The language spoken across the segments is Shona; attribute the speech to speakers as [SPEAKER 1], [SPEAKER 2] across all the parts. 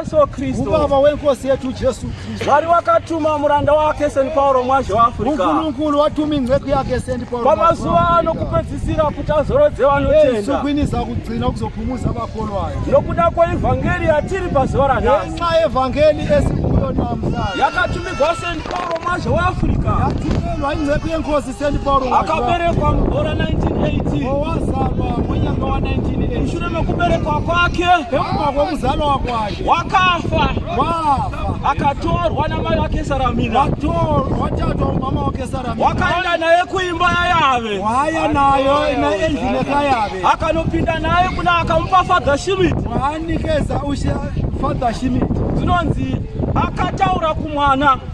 [SPEAKER 1] Yesu Kristu, ubaba wenkosi yetu
[SPEAKER 2] Jesu Kristu, wari wakatuma
[SPEAKER 1] muranda wake St Paul mwazhe waAfrica, Nkulunkulu watuma inceku
[SPEAKER 2] yake St Paul pamazuva ano
[SPEAKER 1] kupedzisira kuti azorodze vanotenda, sukwiniza kugcina
[SPEAKER 2] kuzophumuza vakolwayo nokuda kweevhangeri
[SPEAKER 1] yatiri pazuva ranhasi, ngenxa yevhangeri
[SPEAKER 2] esikuyo namhlanje yakatumigwa St
[SPEAKER 1] Paul mwazhe waAfrica, yatumelwa inceku
[SPEAKER 2] yenkosi akaberekwa
[SPEAKER 1] mugore 1980
[SPEAKER 2] mwenyanga wa 1980 mushure mekuberekwa
[SPEAKER 1] kwake pekubva kwekuzalwa
[SPEAKER 2] kwake wakafa akatorwa
[SPEAKER 1] namai wake saramina watatwa
[SPEAKER 2] mama wake saramina wakaenda naye kuimba
[SPEAKER 1] yayave waya nayo
[SPEAKER 2] naenjine kayave akanopinda naye
[SPEAKER 1] kuna akamupa father shimit waanikeza
[SPEAKER 2] ushe father shimit dzinonzi
[SPEAKER 1] akataura kumwana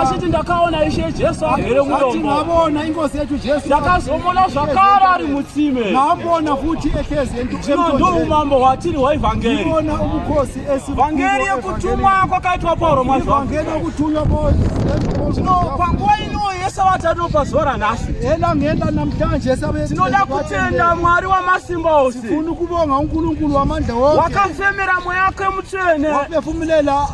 [SPEAKER 2] Asiti ndakaona
[SPEAKER 1] ishe Jesu agere mudomboona ingozi yetu
[SPEAKER 2] Jesu ndakazomona zvakare
[SPEAKER 1] ari mutsime naambona futi
[SPEAKER 2] ekezi zvino ndo umambo
[SPEAKER 1] hwatiri hwaivhangeri ona umukosi
[SPEAKER 2] esi vhangeri
[SPEAKER 1] yekutumwa kwakaitwa Pauro mazwa vhangeri yekutumwa
[SPEAKER 2] Pauro zvino
[SPEAKER 1] panguva ino yese vatatu pazuva ranhasi ena ngenda namtanje
[SPEAKER 2] sabe tinoda kutenda
[SPEAKER 1] Mwari wamasimba ose tifuna kubonga
[SPEAKER 2] uNkulunkulu wamandla wonke wakafemera mweya wake
[SPEAKER 1] mutsvene wapefumilela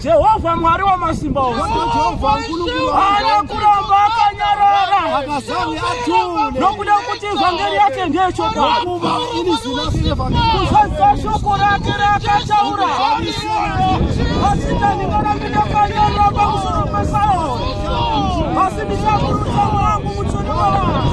[SPEAKER 2] Jehovha
[SPEAKER 1] Mwari wa masimba ose haana
[SPEAKER 2] kuramba
[SPEAKER 1] akanyarara
[SPEAKER 2] nokuda kuti
[SPEAKER 1] vhangeri yake ndeyechokwadi.
[SPEAKER 2] Kuzadzisa shoko
[SPEAKER 1] rake raakataura vasitani varambi ndakanyarara pamusoro pesauri asi ndichakurudza wangu mutsvene wavanhu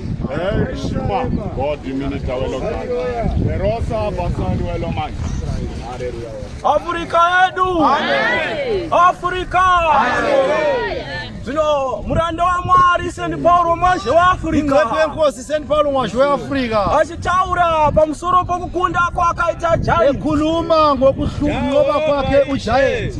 [SPEAKER 3] Hey, Shuma, God, you mean it, Merosa, Basani, Weloman. Afrika
[SPEAKER 1] yedu, Afrika zvino muranda wamwari sendi pauro mwazhe weafrica kwenkosi sendi pauro
[SPEAKER 2] mwazhe weafrica achitaura
[SPEAKER 1] pamusoro pokukunda kwakaita jaekunuma
[SPEAKER 2] ngokuhlunova kwake ujaeti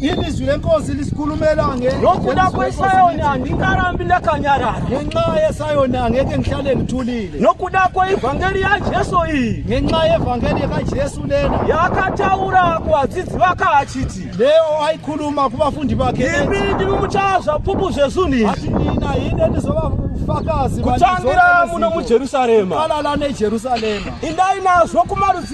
[SPEAKER 1] Ini izwi lenkosi
[SPEAKER 2] lisikhulumela nge Ngokuda
[SPEAKER 1] kweSayoni andingarambi ndakanyarara. Ngenxa yeSayoni
[SPEAKER 2] angeke ngihlale ngithulile. Nokuda kweivhangeri
[SPEAKER 1] yaJesu iyi. Ngenxa yevhangeri
[SPEAKER 2] yakaJesu lena. Yakataura
[SPEAKER 1] kuvadzidzi vake achiti. Leyo ayikhuluma
[SPEAKER 2] kuvafundi vakhe. Imi ndimi muchava
[SPEAKER 1] zvapupu zvezunhu izvi. Asi nina yini
[SPEAKER 2] endizova ufakazi kutangira
[SPEAKER 1] muno muJerusarema. Kala lana eJerusarema.
[SPEAKER 2] Indai nazvo
[SPEAKER 1] kumarudzi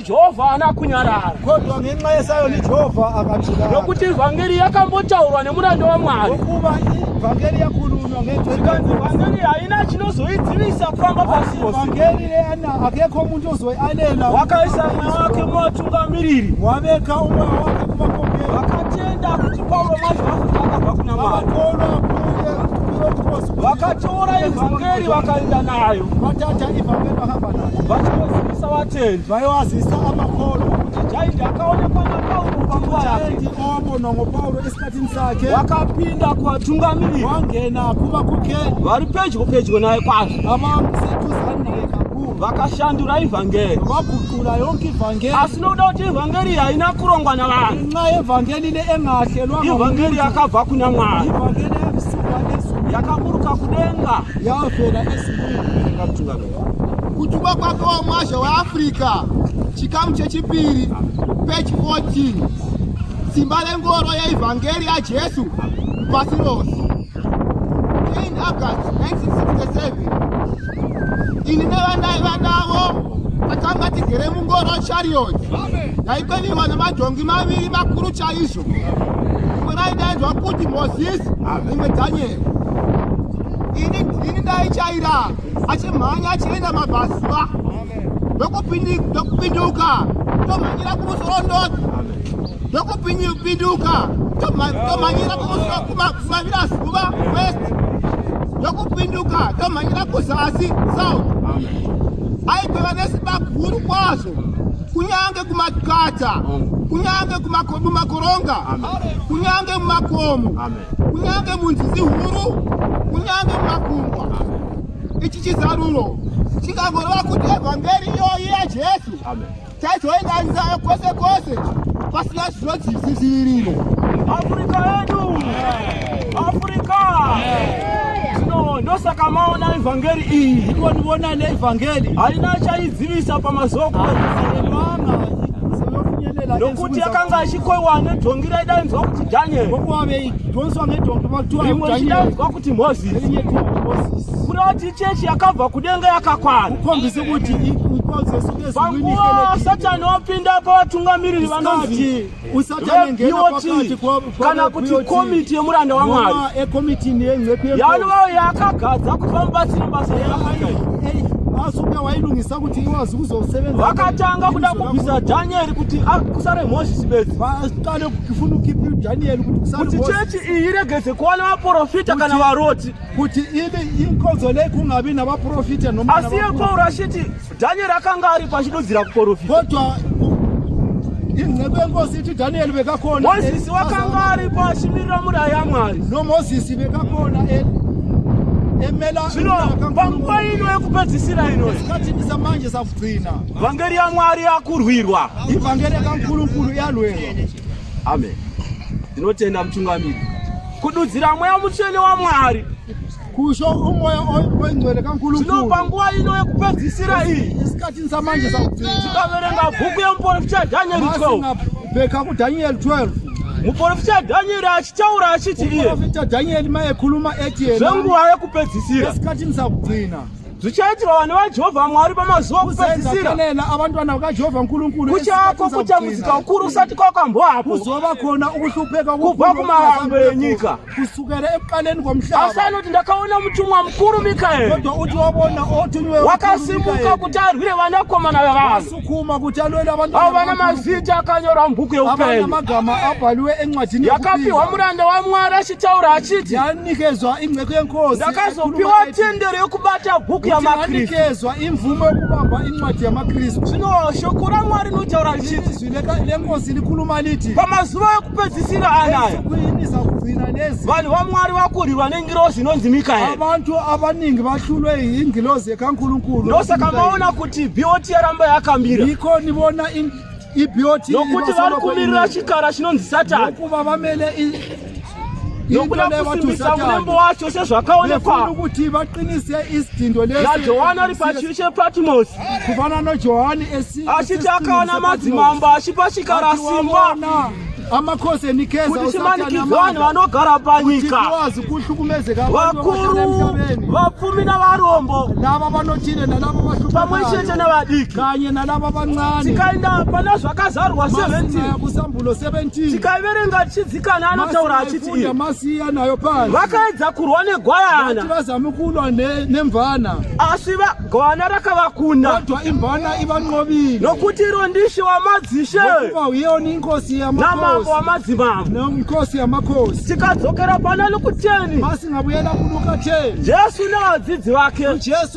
[SPEAKER 1] Jehovha haana kunyarara. Kodwa ngenxa yesayo
[SPEAKER 2] liJehovha akatirara. Nokuti vhangeri
[SPEAKER 1] yakambotaurwa nemuranda waMwari. Ngokuva
[SPEAKER 2] vhangeri yakhulunywa ngezwi. Zvikanzi vhangeri
[SPEAKER 1] haina chinozoidzivisa kufamba pasi pose. Vhangeri leana
[SPEAKER 2] akekho muntu ozoialela. Wakaisa mweya
[SPEAKER 1] wake muvatungamiriri. Wabeka umweya
[SPEAKER 2] wake kuvakomeri. Vakatenda kuti
[SPEAKER 1] Paulo manje vafuta akabva kuna Mwari. Vakakolwa vakatora ivhangeri vakaenda nayo. Vatata ivhangeri
[SPEAKER 2] vakabva nayo. Vachinoziva Savateni
[SPEAKER 1] vaiwazisa
[SPEAKER 2] amakolo kuti jaindi
[SPEAKER 1] akaonekwa naPauro panguva yake opo nongo Pauro
[SPEAKER 2] esikatini sake wakapinda
[SPEAKER 1] kuvatungamiriri wangena kuva
[SPEAKER 2] kukeni vari pedyo
[SPEAKER 1] pedyo naye kwazvo avamusetuzani naye
[SPEAKER 2] kakuru vakashandura
[SPEAKER 1] ivhangeri vaguqula yonke
[SPEAKER 2] ivhangeri asi nokuda kuti ivhangeri
[SPEAKER 1] haina kurongwa navanhu nxa yevhangeri
[SPEAKER 2] neengahlelwa ivhangeri yakabva
[SPEAKER 1] kuna mwari ivhangeri yavisuka
[SPEAKER 2] ezulu yakaburuka kudenga
[SPEAKER 1] yavela
[SPEAKER 2] ezulwini ikatungamira Kutumwa
[SPEAKER 4] kwake wamwazha weAfrica, chikamu chechipiri, page 14. Simba rengoro yeivhangeri yaJesu pasi rose. 10 August 1967. Ini nevandaiva navo takanga tigere mungoro chariot yaikweviwa nemadhongi maviri makuru chaizvo imwe raidaidzwa kuti mozisi imwe dhanyeri ini ndaichaira achimhanya achienda mabhazuva ndokupinduka tomhanyira kumusorondoti ndokupinduka tomhanyira kumavira zuva west ndokupinduka tomhanyira kuzasi south aigweva nesimba guru kwazvo kunyange kumakata kunyange mumakoronga kunyange mumakomo kunyange munzizi huru kunyange mumakungwa ichi chizaruro chikangoreva kuti evhangeri iyoyi yajesu chaizoinganisa kwese kwese pasina zvinodziviririro afrika
[SPEAKER 1] yedu afrika zvino ndosaka maona evhangeri iyi ikonivona
[SPEAKER 2] neevhangeri haina chaidzivisa
[SPEAKER 1] pamazuva okuaa nokuti akanga achikoiwa nedhongi raidainzwa kuti Daniel. Rimwe richidaidzwa kuti Moses. Kureva kuti chechi yakabva kudenga yakakwana. Panguva Satani wapinda pavatungamiriri vanonzi vepioti kana kuti komiti yemuranda waMwari yanovavo yakagadza kuti vamubatsire basa yaaai asuke wailungisa kuti iwe hazi kuzosevenza vakatanga kuda kubvisa dhanieri kuti kusare mozisi bedzi vakade kufuna ukipi dhanieri kuti chechi iyi iregeze kuona vaprofita kana varoti kuti ivi
[SPEAKER 2] inkodzo lei kungavi navaprofita asi yepauro
[SPEAKER 1] achiti dhanieri akanga ari pachidudzira kuprofita kodwa
[SPEAKER 2] inceku yenkosi iti dhanieri vekakona mozisi wakanga
[SPEAKER 1] ari pachimirira muraya mwari nomozisi vekakona emela zvino panguva ino yekupedzisira ino zvikatimbisa manje
[SPEAKER 2] sakugcina vhangeri yamwari
[SPEAKER 1] yakurwirwa ivhangeri
[SPEAKER 2] yakankurukuru yalwerwa amen
[SPEAKER 1] ndinotenda mutungamiri kududzira mweya mutsvene wamwari kusho
[SPEAKER 2] umoya oingcwele kankulukulu panguva
[SPEAKER 1] ino yekupedzisira iyi isikatini samanje
[SPEAKER 2] sakugcina tikaverenga bhuku
[SPEAKER 1] yemuporofita dhanyeri 12 bheka kudhanyeri
[SPEAKER 2] 12 muprofita
[SPEAKER 1] dhanyeri achitaura achiti iyeprofita dhanyeri
[SPEAKER 2] mayekhuluma eti yena zvenguva yekupedzisira
[SPEAKER 1] esikhathi msakugcina
[SPEAKER 2] zvichaitirwa vanhu
[SPEAKER 1] vajehovha mwari pamazuva okupedzisira abantwana
[SPEAKER 2] vakajehovha nkulunkulu kuchako kutambudzika
[SPEAKER 1] ukuru usati kwakambohapo kuzova khona
[SPEAKER 2] ukuhlupeka kubva kumahambwe
[SPEAKER 1] enyika kusukela ekuqaleni
[SPEAKER 2] komhlaba asanoti ndakaona
[SPEAKER 1] mutumwa mukuru mikaeri kodwa uthi wabona
[SPEAKER 2] othunywe wakasimuka kuti
[SPEAKER 1] arwire vanakomana vevanhu sukuma kuti alwele
[SPEAKER 2] abantu avo vana mazita
[SPEAKER 1] akanyorwa mubhuku yeupenyu amagama abhaliwe
[SPEAKER 2] encwadini yakapiwa muranda
[SPEAKER 1] wamwari achitaura achiti yanikezwa ingceko
[SPEAKER 2] yenkosi ndakazopiwa
[SPEAKER 1] tendero yokubata bhuku yamakristu yanikezwa imvumo
[SPEAKER 2] yokubamba incwadi yamakristu zvino shoko
[SPEAKER 1] ramwari rinotaura richiti
[SPEAKER 2] pamazuva ekupedzisira
[SPEAKER 1] anaya
[SPEAKER 2] vanhu vamwari vakurirwa
[SPEAKER 1] nengirozi inonzi mikaeabantu abaningi
[SPEAKER 2] bahlulwe yingilozi yekankulunkulu ndosaka maona
[SPEAKER 1] kuti bot yaramba yakamira iko nibona
[SPEAKER 2] ibot nokuti vari
[SPEAKER 1] kumirira chikara chinonzi satani nokuva vamele nokuda kusimbisa murembo wacho sezvakaonekwa kuti vaqinise
[SPEAKER 2] isidhindo najohani ari pachiri
[SPEAKER 1] chepatimosi kufana
[SPEAKER 2] nojohani achiti akaona
[SPEAKER 1] madzimambo achipa chikara simba amakhosi
[SPEAKER 2] enikeza kuti chimanikidzwa vanhu
[SPEAKER 1] vanogara panyika tikwazi kuhlukumezeka
[SPEAKER 2] vakuru
[SPEAKER 1] vapfumi navarombo lava vanochine
[SPEAKER 2] nalava vahlupa pamwe chete
[SPEAKER 1] navadiki kanye nalava
[SPEAKER 2] vancane tikaenda pana
[SPEAKER 1] zvakazarwa 17 kusambulo 17
[SPEAKER 2] tikaiverenga tichidzi
[SPEAKER 1] Kana anotaura achiti iye masiya nayo pasi.
[SPEAKER 2] Vakaedza kurwa
[SPEAKER 1] negwayana. Vazama kulwa
[SPEAKER 2] nemvana. Asi
[SPEAKER 1] gwayana rakavakunda. Kodwa imvana
[SPEAKER 2] ivanqobile. Nokuti iro ndishe
[SPEAKER 1] wamadzishe. Ngokuba uyewo
[SPEAKER 2] ninkosi yamakhosi. Namambo
[SPEAKER 1] wamadzimambo. Nenkosi yamakhosi.
[SPEAKER 2] Tikadzokera pana
[SPEAKER 1] Lukuteni. Masingabuyela kuluka
[SPEAKER 2] 10. Jesu nevadzidzi
[SPEAKER 1] vake. Jesu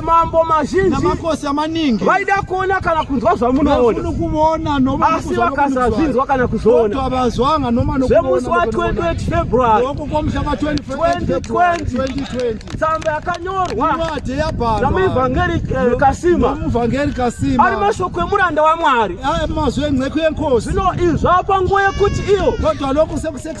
[SPEAKER 2] mambo mazhinji
[SPEAKER 1] namakosi amaningi
[SPEAKER 2] vaida kuona kana
[SPEAKER 1] kunzwa zvamunoona kuona
[SPEAKER 2] noma asi vakasazvinzwa
[SPEAKER 1] kana kuzoona avazwanga noma
[SPEAKER 2] zvemusi wa 28
[SPEAKER 1] February loko kwamusha kwa 2020
[SPEAKER 2] tsamba
[SPEAKER 1] yakanyorwa inwadi yabhalwa
[SPEAKER 2] namuvhangeri eh,
[SPEAKER 1] Kasima muvhangeri Kasima
[SPEAKER 2] ari mashoko emuranda
[SPEAKER 1] waMwari ari mazwi enceku
[SPEAKER 2] yenkosi zvino izvapa
[SPEAKER 1] nguva yekuti iyo kodwa loko sekuseka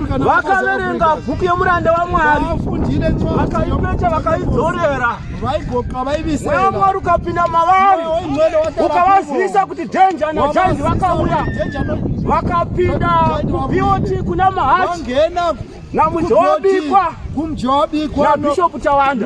[SPEAKER 2] vakaverenga
[SPEAKER 1] bhuku yemuranda wamwari
[SPEAKER 2] vakaipecha
[SPEAKER 1] vakaidzorera
[SPEAKER 2] mweya mwari ukapinda
[SPEAKER 1] mavari ukavazivisa kuti dhenja najaindi vakauya vakapinda kubioti kuna mahachi
[SPEAKER 2] namunjowabikwa nabishopu chavanhu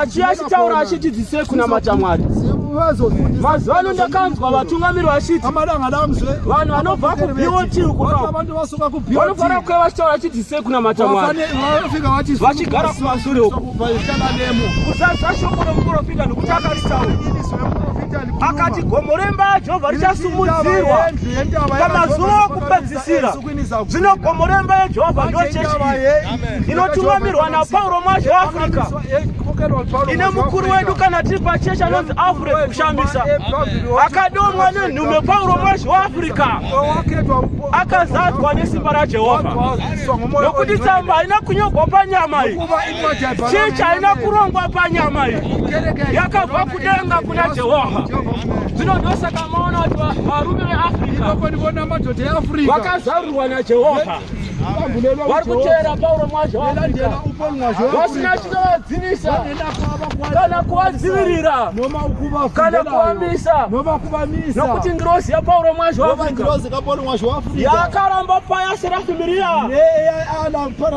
[SPEAKER 2] Achi achitaura
[SPEAKER 1] achiti dzise kuna matamwari. Mazuva ano ndakanzwa vatungamiri vachiti vanhu vanobva kuBOT uko vanofanira kuve vachitaura achiti dzise kuna matamwari vachigara kumasure uko kuzadza shoko romuprofita nokuti akaritaura akati gomo remba Jehovha richasumudzirwa pamazuva okupedzisira. zvinokomora imba yejehovha ndiyo chechi iyi inotungamirwa napauro mwazhi weafrica ine mukuru wedu kana tiri pachechi anonzi afure kushamisa akadomwa nenhume pauro mwazhi weafrica akazadzwa nesimba rajehovha nokuti tsamba haina kunyogwa panyama iyi chechi haina kurongwa panyama iyi yakabva kudenga kuna Jehovha. Zvino ndosaka maona kuti varume veAfrica vakazarurwa naJehovha vari kuteera Pauro mwacho vasina chinovadzinisa kana kuvadzivirira kana kuvamisa nokuti ngirozi yaPauro mwacho yakaramba paya serafimiriya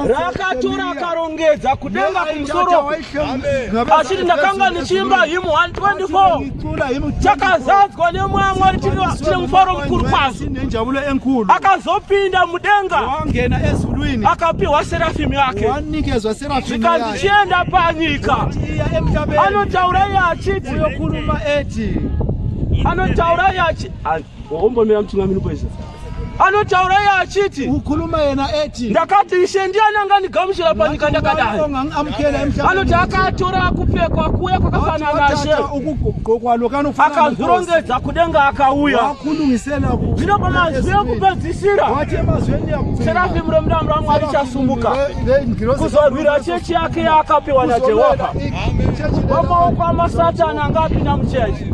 [SPEAKER 1] rakatora akarongedza kudenga kumusoro achiti ndakanga ndichiimba him 124 chakazadzwa nemwe amwari chine mufaro mukuru kwazvo akazopinda mudenga akapiwa serafimu yake zvikandichienda panyika anotaura iye achiti anotaura iye achi hombomira mutungamiri poizvozvo anotaura iye achiti ukhuluma yena ethi ndakati ishe ndiye anangandigamuchira panyika ndakadai anoti akatora kupfekwa kuya kwakafana nashe akazvirongedza kudenga akauya zvino pamazwi ekupedzisira serafimu remudamu ramwari chasumuka kuzorwira chechi yake yaakapiwa najehovha pamaoko amasatani anga apinda muchechi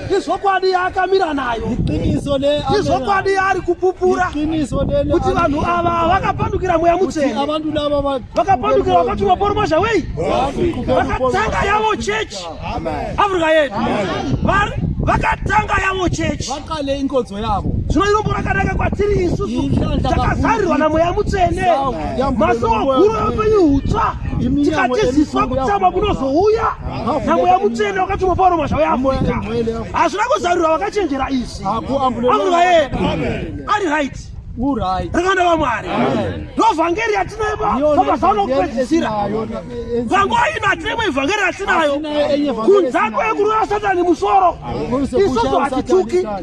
[SPEAKER 1] izvokwadi yaakamira nayo
[SPEAKER 2] izvokwadi yaari
[SPEAKER 1] kupupura kuti
[SPEAKER 2] vanhu ava
[SPEAKER 1] vakapandukira mweya mutsvene
[SPEAKER 2] vakapandukira vakati
[SPEAKER 1] maporomozha wei vakatanga yavo chechi afrika yedu vakatanga yavo chechi vakale inkodzo
[SPEAKER 2] yavo zvino irombo rakanaka
[SPEAKER 1] kwatiri isusu takazarirwa namweya mutsvene masowa guru yeupenyu hutsva tikatiziswa kutsamwa kunozouya namweya mutsvene wakatumwa pauro masha weafurika hazvina kuzarurwa vakachenjera izvi akurwa ye ari right rakanda vamwari ndovhangeri yatinayo pamazano okupedzisira panguva ino hatinemo ivhangeri yatinayo kunzako yekurova satani musoro isozo hatituki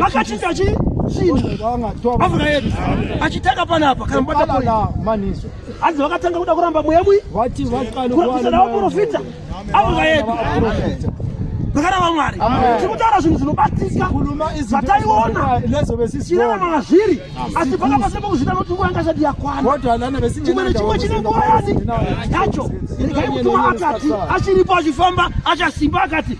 [SPEAKER 1] vakachinja chii afika yedu achitaka panapa kana mubata maniso
[SPEAKER 2] hanzi vakatanga kuda
[SPEAKER 1] kuramba mweya mwi kurambisa navaprofita afika yedu vakana vamwari tikutaura zvinhu zvinobatika zvataiona chirarama mazviri asi paka pasina pakuzvita noti nguva yanga isati yakwana chimwe nechimwe chine nguva yani yacho regai mutumwa akati achiripo achifamba achasimba akati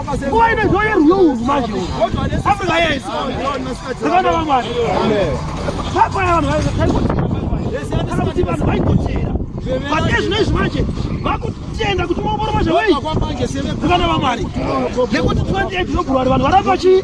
[SPEAKER 1] Nguva ine zvoye rwiyo urwu manje Afrika yese Zvikanda vamwari Papa ya vanhu vaikochera Kana kuti vanhu vaikochera Vate zvino izvi manje Vakutenda kuti maomboro manje wei Zvikanda vamwari Nekuti 28 zvinogurwari vanhu varamba chi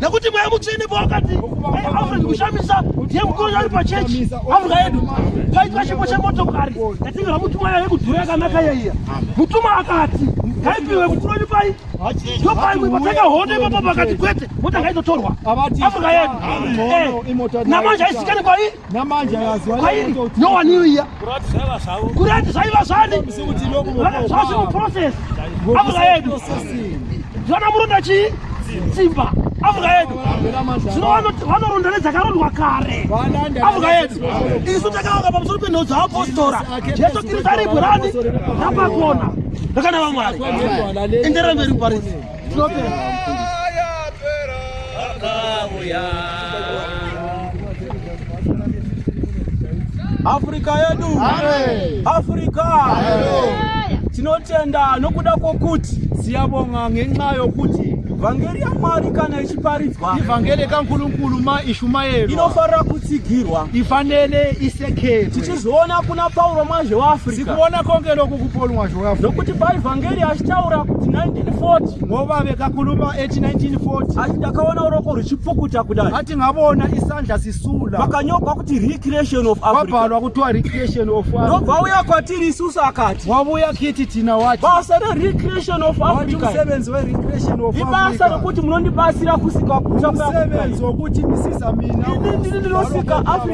[SPEAKER 1] nekuti mweya mutsvene pawakati africa kushamisa ndiye mukuru ari pachechi africa yedu paitwa chipo chemotokari yatingira mutuma yave kudhura yakanaka yaiya mutuma akati ngaipiwe mukuru wenyu pai ndopai mwipatenga hondo ipapo pakati kwete mota ngaitotorwa africa yedu eh, namanje aisikani kwaii Namanje akaziwa kwairi no one knew here. Kurati zvaiva zvavo. Kurati zvaiva zvani? Zvasi mu process. Avuka yedu. Zvana muronda chi? Simba. Avuka yedu. Zvinowana vanoronda nedzakarondwa kare. Avuka yedu. Isu takawaka pamusoro penhau dzaapostora. Jesu Kristu ari bwirani napakona. Ndakana vamwari. Enderera mberi muparidzi. Afrika yedu Afrika tinotenda nokuda kwokuti siyabonga ngenxa yokuti vhangeri yamwari kana ichiparidzwa ivhangeri yekankulunkulu
[SPEAKER 2] maishumayeri inofanira kutsigirwa
[SPEAKER 1] ifanele
[SPEAKER 2] tichizviona kuna
[SPEAKER 1] pauro mwazhe weafrikatikuona konge loku
[SPEAKER 2] kupolo mwazhe weafrika nokuti paevhangeri
[SPEAKER 1] achitaura kuti 1940 ngova vekakuluma
[SPEAKER 2] eti 1940 ati ndakaona uroko
[SPEAKER 1] ruchipukuta kudai ati ngavona isandla
[SPEAKER 2] sisula vakanyogwa kuti
[SPEAKER 1] recreation of afrikavabhalwa kutiwa recreation
[SPEAKER 2] of africa nobva uya kwatiri
[SPEAKER 1] isusu akati wavuya kiti tina
[SPEAKER 2] wati basa rerecreation
[SPEAKER 1] of africa musevenzi
[SPEAKER 2] werecreation of ibasa rekuti
[SPEAKER 1] munondibatsira kusika kusamusevenzi wekuti
[SPEAKER 2] misisa mina ini ndiri ndinosika
[SPEAKER 1] africa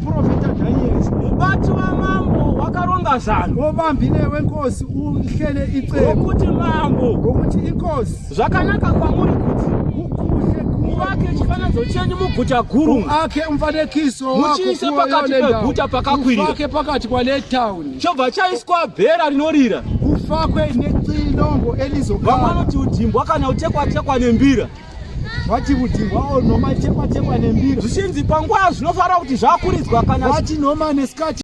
[SPEAKER 2] Profeta Daniel. Mubati wamambo
[SPEAKER 1] wakaronga zano. Wobambi newe nkosi
[SPEAKER 2] uhlele icebo. Ngokuti mambo.
[SPEAKER 1] Ngokuti inkosi.
[SPEAKER 2] Zvakanaka kwamuri
[SPEAKER 1] kuti. Kukuhle
[SPEAKER 2] muvake chifananidzo
[SPEAKER 1] chenyu muguta guru. Muake umfanekiso
[SPEAKER 2] wako. Muchiise pakati
[SPEAKER 1] peguta pakakwirira. Mufake pakati kwale
[SPEAKER 2] town. Chobva chaiswa
[SPEAKER 1] bhera rinorira. Kufakwe
[SPEAKER 2] nexilongo elizogara. Vamwe vanoti udimbwa
[SPEAKER 1] kana utekwa tekwa nembira.
[SPEAKER 2] vachivudhirwawo nhoma
[SPEAKER 1] chekwa chekwa
[SPEAKER 2] nembira
[SPEAKER 1] zvichinzi
[SPEAKER 2] panguva zvinofanira kuti zvakuridzwa
[SPEAKER 1] kana
[SPEAKER 2] vachinhoma
[SPEAKER 1] neskati